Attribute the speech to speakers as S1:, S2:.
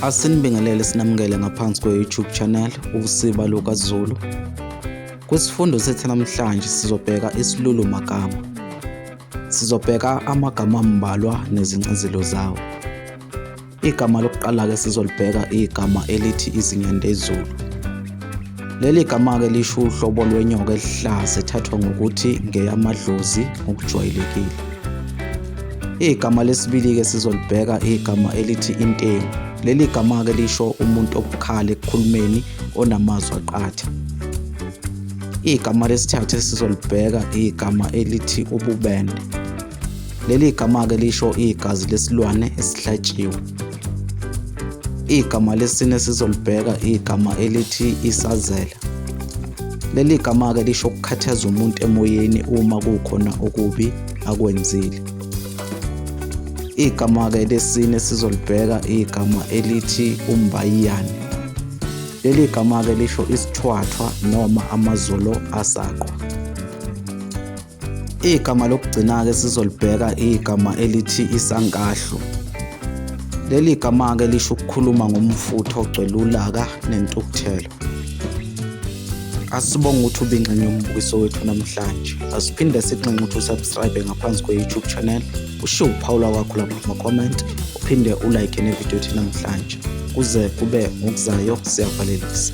S1: Asinibingelele sinamukele ngaphansi kwe-YouTube channel Usiba LukaZulu. Kwisifundo sethu namhlanje sizobheka isilulu magama. Sizobheka amagama ambalwa nezincazelo zawo. Igama lokuqala ke sizolibheka igama elithi izinyandezulu. Leli gama-ke lisho uhlobo lwenyoka elihlaza ethathwa ngokuthi ngeyamadlozi ngokujwayelekile. Igama lesibili-ke sizolibheka igama elithi intengu. Leli gama-ke lisho umuntu obukhala ekukhulumeni onamazwi aqatha. Igama lesithathu esizolibheka igama elithi ububende. Leli gama-ke lisho igazi lesilwane esihlatshiwe. Igama lesine sizolibheka igama elithi isazela. Leli gama-ke lisho ukukhathaza umuntu emoyeni uma kukhona okubi akwenzile. Igama-ke lesine sizolibheka igama elithi umbayiyane. Leli gama-ke lisho isithwathwa noma amazolo asaqwa. Igama lokugcina-ke sizolibheka igama elithi isankahlu. Leli gama-ke lisho ukukhuluma ngomfutho ogcwele ulaka nentukuthelo. Asibonge ukuthi ubinxenye umbukiso wethu namhlanje. Asiphinde sinxenxe ukuthi usubscribe ngaphansi kwe-YouTube channel, ushiye uphawu lwakho lapha kuma-comment, uphinde ulike nevidiyo ethi namhlanje. Kuze kube ngokuzayo siyavalelisa.